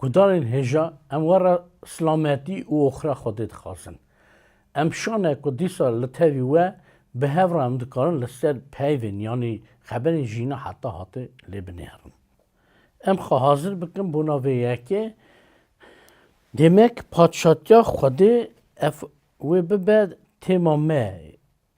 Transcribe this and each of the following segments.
Gudarên hêja em we re silametî û oxira Xwedê dixwazin. Em şan e ku dîsa li tevî we bi hev re em dikarin li ser peyvên yanî xeberên jîna heta hatê lê binêrin. Em xwe hazir bikin bona vê yekê. Demek padşatiya Xwedê ev wê bibe têma me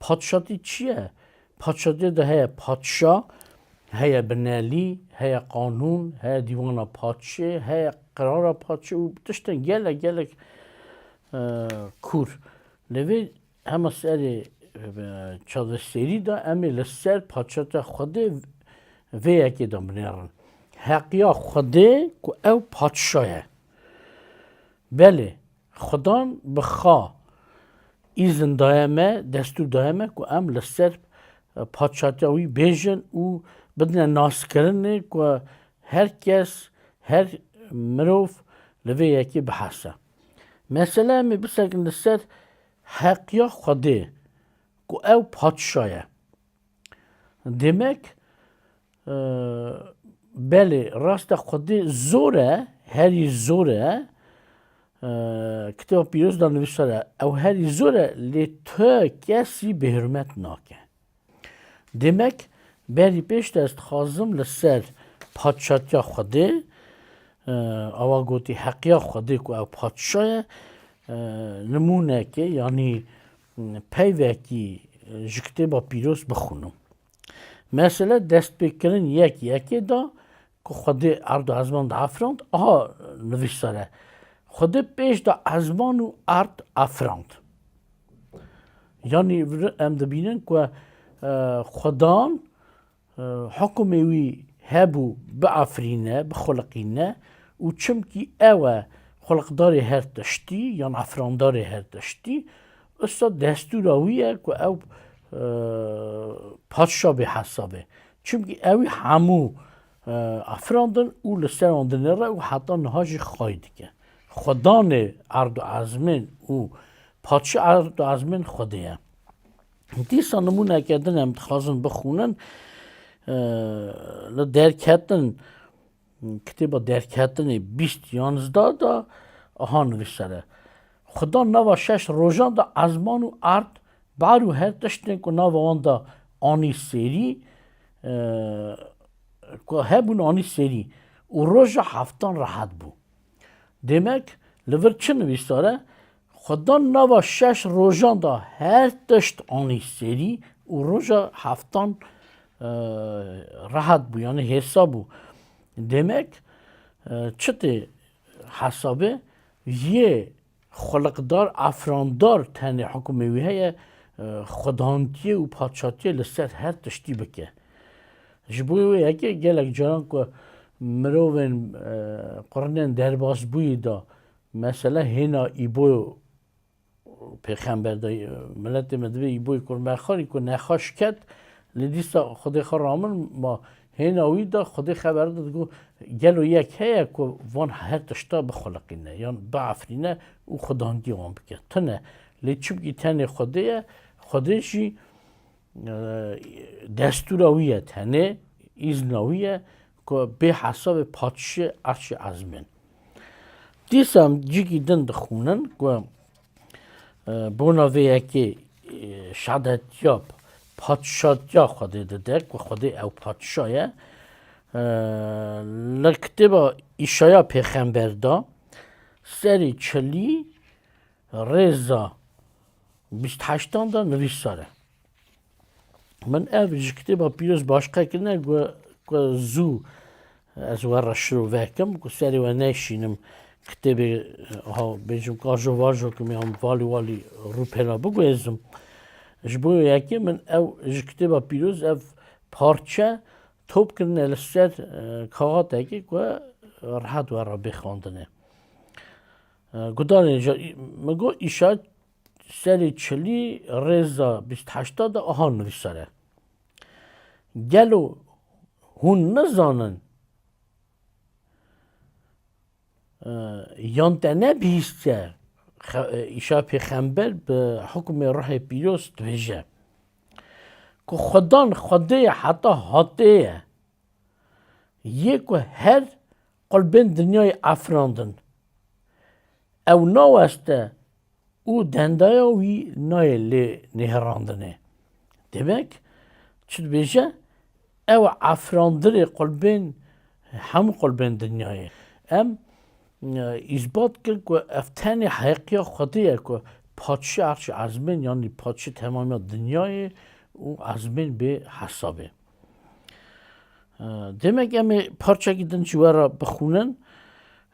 Padişatî çi ye? Padişatîyê de heye padişa, heye binelî, heye qanûn, heye dîwana padişê, heye qirara padişê û tiştên gelek gelek kûr. Lê vê hema serê çavdestêrî de em ê li ser padişatiya Xwedê vê yekê de binêrin. Heqiya Xwedê ku ew padişa ye. Belê. Xudan bi xa îzin daye me, destûr daye me ku em li ser Padşatiya wî bêjin û bidine naskirinê ku her kes, her mirov li vê yekê bihese. Mesele em ê bisekin li ser heqiya Xwedê ku ew Padşa ye. Demek belê rast e xwedî zor e, herî zor e. Kitêba Pîroz de nivîsere ew herî zor e lê tu kesî bêhurmet nake. Demek berî pêş de ez dixwazim li ser padşatiya Xwedê awa gotî heqiya Xwedê ku ew padşa ye nimûnekê yanî Peyvekî ji kitêba pîroz bixwînim. Mesele destpêkirin yek yekê da ku Xwedê erda ezman da afirand, aha nivîsere. Xwedê pêş da ezman û erd afirand. Yani em dibînin ku xwedan Hukmê wî hebû biafirîne, bixuliqîne û çimkî ew e xuliqdarê her tiştî yan afirandarê her tiştî, usta destûra wî ye ku ew padşa bê hesab e. Çimkî ewî hemû afirandin û li ser wan dinêre û heta niha jî xwayî dike. Xwedanê erd û ezmên û padşa erd û ezmên Xwedê ye. Dîsa nimûneke din em dixwazin bixûnin li derketin kitêba derketinê bîst yanizda da aha nivîsere. Xuda nava şeş rojan da ezman û erd bar û her tiştên ku nava wan da anî serî ku hebûn anî serî û roja heftan rehet bû. Demek li vir çi nivîsare Xwe dan nava şeş rojan de her tişt anî serî û roja heftan rehet bû yanî hêsa bû. Demek çi tê hesabê yê xwiliqdar efrandar tenê hukmê wî heye xwedantiyê û paçatiyê li ser her tiştî bike. Ji bo wê yekê gelek caran ku mirovên qurinên derbasbûyî de Mesela hêna Îbo pêxember de miletê me divê Îboyê kur mexarî ku nexweş ket lê dîsa Xwedê xwe ramir ma. Hêna wî de Xwedê xeber da digot gelo yek heye ku van her tişta bixuliqîne yan biafirîne û xwedangî wan bike. Tune. Lê çimkî tenê Xwedê ye, Xwedê jî destûra wî ye tenê, îzna wî ye. Ku bê hesabê patişê erşê ezmên. Dîsa em cikî din dixwînin ku bona vê yekê şehadetiya patişatiya Xwedê dide ku Xwedê ew patişa ye. Li kitêba Îşaya pêxember de serê çilî rêza bîst heştan de nivîsare. Min ev ji kitêba pîroz baş qekirine ku ku zû ez we re şirove kim ku serê we neyşînim kitêbê ha bêjim kajo vajo kim yan valî walî rûpêna biguhêzim. Ji bo yekê min ew ji kitêba pîroz ev parçe top kirine li ser kaxatekê ku rehet we re bê xwendinê. Gudanê min got îşa Serê çilî rêza bîst heşta de aha nivîsere, Gelo hûn nizanin yan te ne bihîstiye îşa pêxember bi hukmê ruhê pîroz dibêje ku xwedan xwedê heta hatê ye, yê ku her Qulbên dinyayê afirandin. Ew naweste û dendaya wî nayê lê nêhirandinê. Demek, çi dibêje, ew e afirandinê qulbên, hemû qulbên dinyayê. Em îsbat kir ku ev tenê heqiya Xwedê ye ku Paştî Erşê Ezmên yanî Paştî temamiya dinyayê û ezmên bê hesabê. Demek em ê parçekî din ji we re bixwînin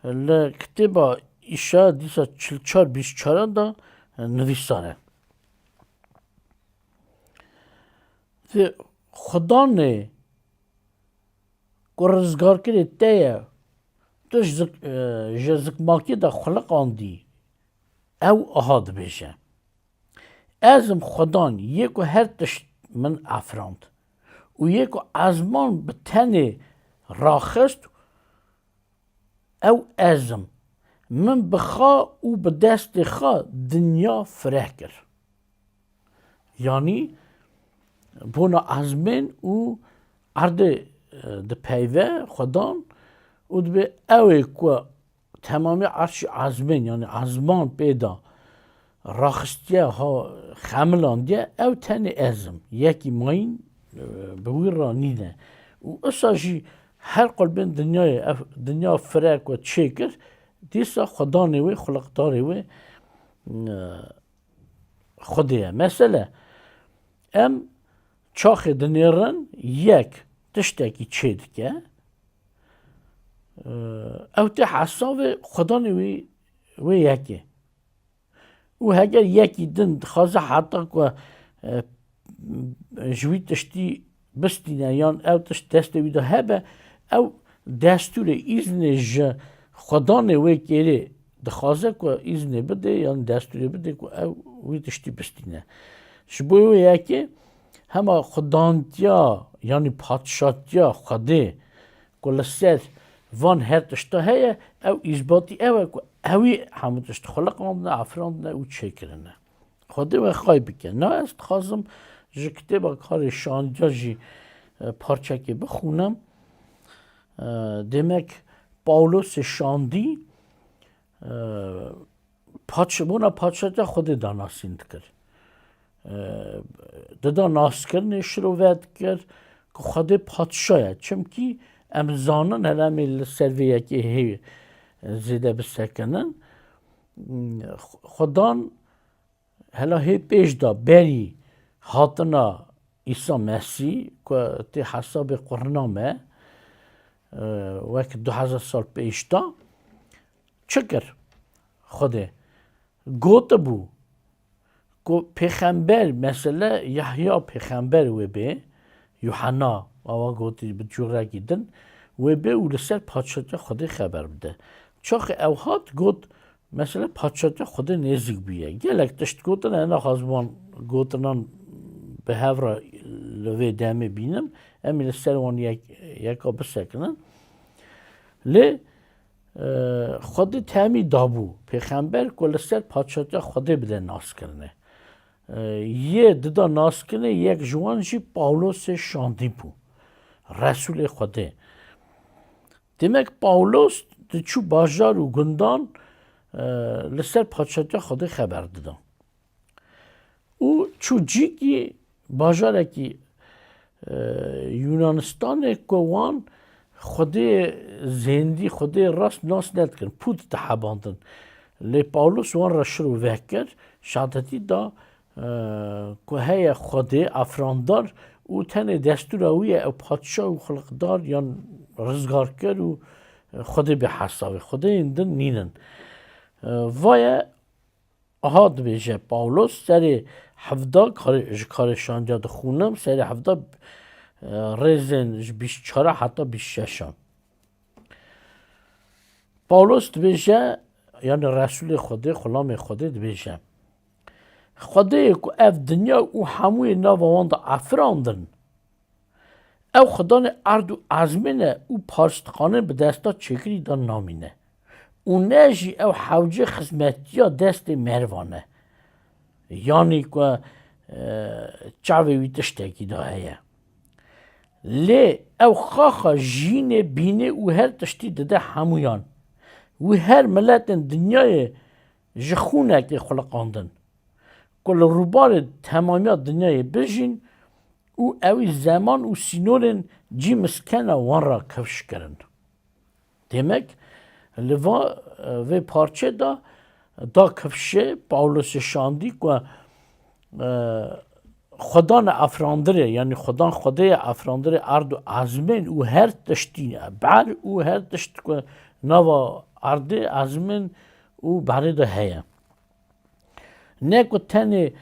li kitêba îşa dîsa çil çar bîst çaran da nivîsane. Di xudanê ku rizgarkirê te ye tu ji zikmakê de xuliq andî ew aha dibêje. Ez im xwedan yê ku her tişt min afirand û yê ku ezman bi tenê raxist ew ez im. Min bi xwe û bi destê xwe dinya fireh kir. Yanî bona ezmên û erdê dipeyve xwedan û dibê ew ê ku Temamî erşî ezmên yanî ezman pê da raxistiye ha xemilan diye ew tenê ezm yekî mayîn bi wî ra nîne û usa jî her qulbên dinyayê ev dinya firek we çê kir dîsa xudanê wê xuliqdarê wê xwedê ye. Mesele em Çaxê dinêrin yek tiştekî çêdike. Ew tê hesavê xwedanê wî wê yekê. Û heger yekî din dixwaze heta ku ji wî tiştî bistîne yan ew tişt destê wî de hebe ew destûrê îznê ji xwedanê wê kêrê Dixwaze ku îznê bide yan destûrê bide ku ew wî tiştî bistîne. Ji bo wê yekê hema xudantiya yanî patişatiya Xwedê ku li ser van her tişta heye ew îsbatî ew e ku ewî hemû tişt xwe liqandine, afirandine û çêkirine. Xwedê we xay bike. Na ez dixwazim ji kitêba karê şanca jî e, parçekê bixûnim. E, demek Pawlosê şandî e, paçbûna paçeca xwedê da nasîn dikir. Dida naskirinê şiro ve dikir ku xwedê paçşaya. Çimkî em zanin heremê li ser vê yekê hê zêde bisekinin. Xwedan hela hê pêş da berî hatina Îsa Mesî ku tê hesabê qurina me wek du hezar sal pêş da çi kir? Xwedê gotibû ku pêxember mesela Yahya pêxember wê bê, Yuhena awa gotî bi cûrekî din wê bê û li ser Paşadiya Xwedê xeber bide. Çaxê ew hat got mesela Paşadiya Xwedê nêzîk bûye. Gelek tişt gotin e naxwazim wan gotinan bi hev re li vê demê bînim. Em ê li ser wan yeka bisekinin. Lê Xwedê temî dabû pêxember ku li ser Paşatiya Xwedê bide naskirine. Yê dida naskirine yek ji wan jî Pawlosê şandî bû. Resûlê Xwedê. Demek Pawlos diçû bajar û gundan li ser Paşatiya Xwedê xeber dida. û Çûcîkî bajarekî Yûnanistanê ku wan xwedê zêndî, xwedê rast nas nedikin, pût dihebandin. Lê Pawlos wan re şiro veh kir, şahadetî da ku heye xwedê efrandar û tenê destûra wî ye ew patşa û xulqdar yan rizgarker û xwedê bêhesab e. Xwedeyên din nîn in. Vaye Aha dibêje Pawlos serê hevda ji karê şanciya dixûnim, serê hevda rêzên ji bîst çara heta bîst şeşan. Pawlos dibêje yanî Resulê Xwedê, xulamê Xwedê dibêje. Xwedê ku ev dinya û hemûyê nava wan de afirandin. Ew xidanê erd û ezmên e û parstixanên bi desta çêkirî de namîne. Û ne jî ew hewce xizmetiya destê mervan e. Yanî ku çavê wî tiştekî de heye. Lê ew xaxa jînê, bînê û her tiştî dide hemûyan. Wî her miletên dinyayê Ji xûnekê xuliqandin ku li rûbarê temamiya dinyayê bijîn û ewî zeman û sînorên cî miskena wan re kevş kirin. Demek li va vê parçê de da kevşê Pawlosê şandî ku Xwedan e afirandire yanî xwedan xwedê ye afirandire erd û ezmên û her tiştî ne. Ber û her tişt ku nava erdê ezmên û berê de heye. Ne ku tenê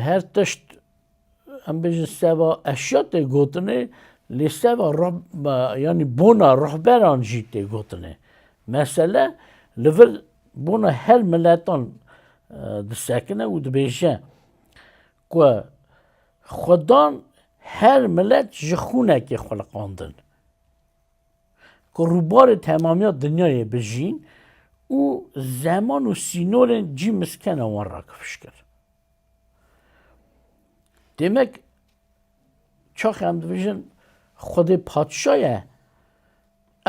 her tişt em bêjin seva eşya tê gotinê lê seva yanî bona rehberan jî tê gotinê. Mesele li vir Bona her miletan disekine û dibêje ku Xwedan her milet ji xûnekê xweliqandin ku rûbarê temamiya dinyayê bijîn û zeman û sînorên cî miskena wan rakifişkir. Demek Çaxê em dibêjin Xwedê patişa ye.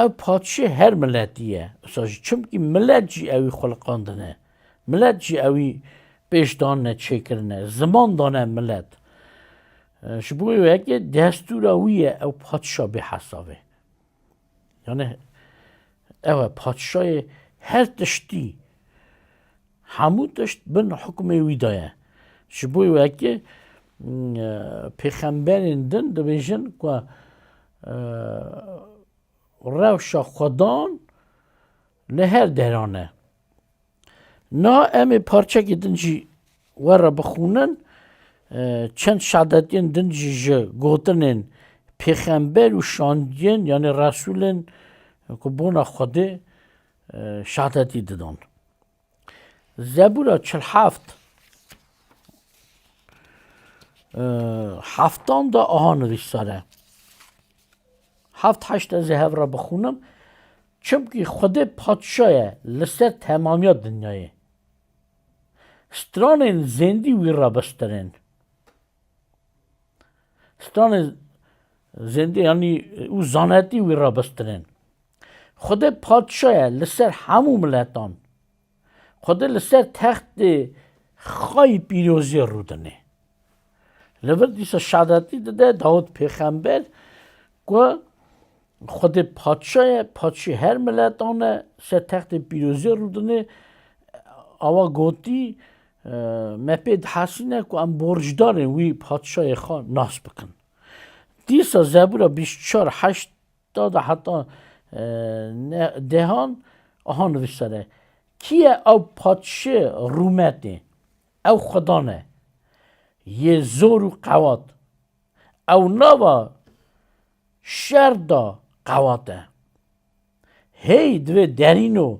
Ew patişê her miletî ye. Wisa jî çimkî milet jî ewî xweliqandine. Milet jî ewî pêş danine çêkirine. Ziman dane milet. Ji bo wê weke destûra wî ye ew patişa bêhesabê. Yani ew e padişayê her tiştî hemû tişt bin hukmê wî de ye. Ji bo wekî pêxemberên din dibêjin ku rewşa xwedan li her deran e. Na em ê parçekî din jî we re bixwînin. Çend şehadetiyên din jî ji gotinên pêxember û şandiyên yanê resûlên ku bona Xwedê şehadetî didan. Zebûra çil heft heftan de aha nivîsare. Heft heşt ez ê hev re bixwînim. Çimkî Xwedê patşa ye li ser temamiya dinyayê. Stranên zêndî wî re bistirên. Stranên zêndî yanî û zanetî wî re bistirên. Xwedê patşa ye li ser hemû miletan. Xwedê li ser textê xayî pîroziyê rûdine. Li vir dîsa şadetî dide Dawûd pêxember ku Xwedê Paşa ye, Paşê her miletan e, ser textê pîroziyê rûdine, awa gotî, Me pê dihesîne ku em borcdarên wî, Paşayê xwe nas bikin. Dîsa Zebûra bîst û çar heşt Ta di heta dehan aha nivîsere, Kî ye ew patişê rûmetê? Ew xudan e yê zor û qewat. Ew nava şer da qewat e. Hêy divê derîno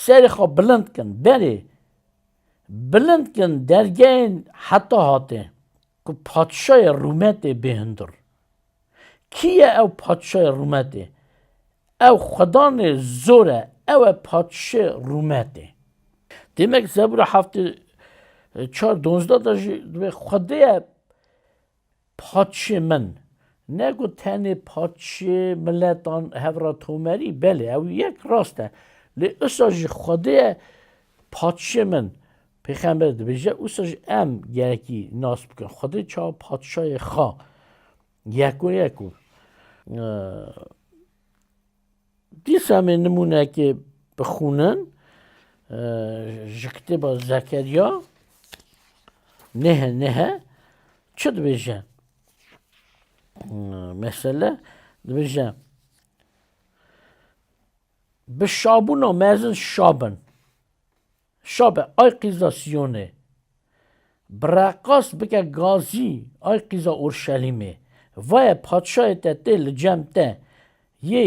serê xwe bilind kin, berê bilind kin dergehên heta hatê ku patişayê rûmetê bê hundir. Kî ye ew patişayê rûmetê? Ew xwedanê zor e, ew e patişê rûmetê. Demek Zebûra heftê çar donzda de jî dibê Xwedê ye patişê min. Ne ku tenê patişê miletan hevra tomerî, belê ew yek rast e. Lê isa jî Xwedê ye patişê min. Pêxember dibêje, Wisa jî em gelekî nas bikin, Xwedê çawa Patişayê xwe yekoyek û dîsa em ê nimûnekê bixwînin ji kitêba Zekeriya nêhe nêhe çi dibêje? Mesele dibêje bi şabûna mezin şabin. Şabe, ay qîza Sîyonê. Bi reqas bike gazî, ay qîza Urşelîmê. Vaye Padşayê te tê li cem te, yê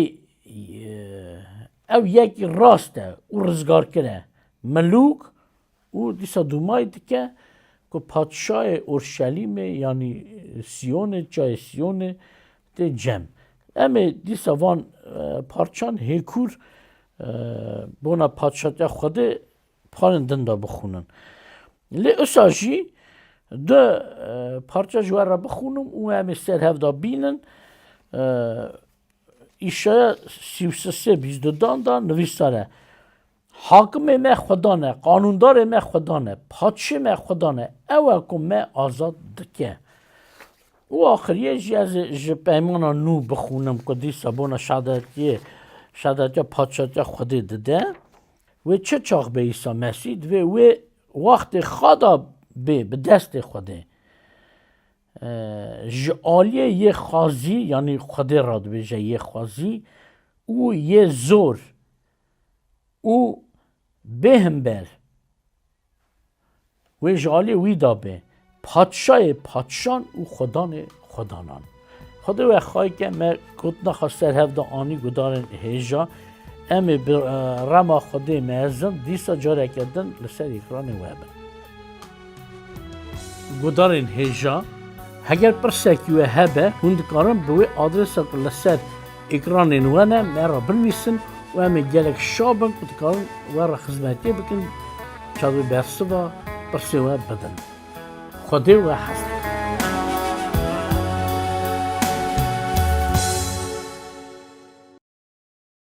ew yekî rast e û rizgarkir e. Milûk û dîsa dûmayî dike ku Padşayê Urşelîmê yanî Sîyonê, çayê Sîyonê Tê cem. Em ê dîsa van parçan hêkûr bona Padşatiya Xwedê parên din de bixwînin. Lê usa jî du parça ji we re bixwînim û em ê ser hev de bînin. Îşeya sî û sisê bîzdudan de nivîsar e. Hakimê me Xweda ne, qanûndarê me Xweda ne, patişê me Xweda ne, ew e ku me azad dike. Û axiriyê jî ez ji Peymana Nû bixûnim ku dîsa bona şehadetiyê, şehadetiya patişatiya Xwedê dide. Wê çi çax bê Îsa Mesî, divê wê wextê xada bê bi destê Xwedê. Ji aliyê yê xazî, yanî Xwedê re dibêje yê xazî û yê zor, û bê himber wê ji aliyê wî da be Patşayê patşan û Xwedanê xwedanan. Xwedê we xayke me gotina xwe ser hev da anî gudarên hêja em ê bi rema Xwedê mezin dîsa careke din li ser ekranê we bin. Guhdarên hêja, Heger pirsekî we hebe, hûn dikarin bi wê adresa ku li ser ekranên we ne, me re binivîsin û em ê gelek şa bin ku dikarin we re xizmetiyê bikin, çavê bersiva pirsên we bidin. Xwedê we hez dikin.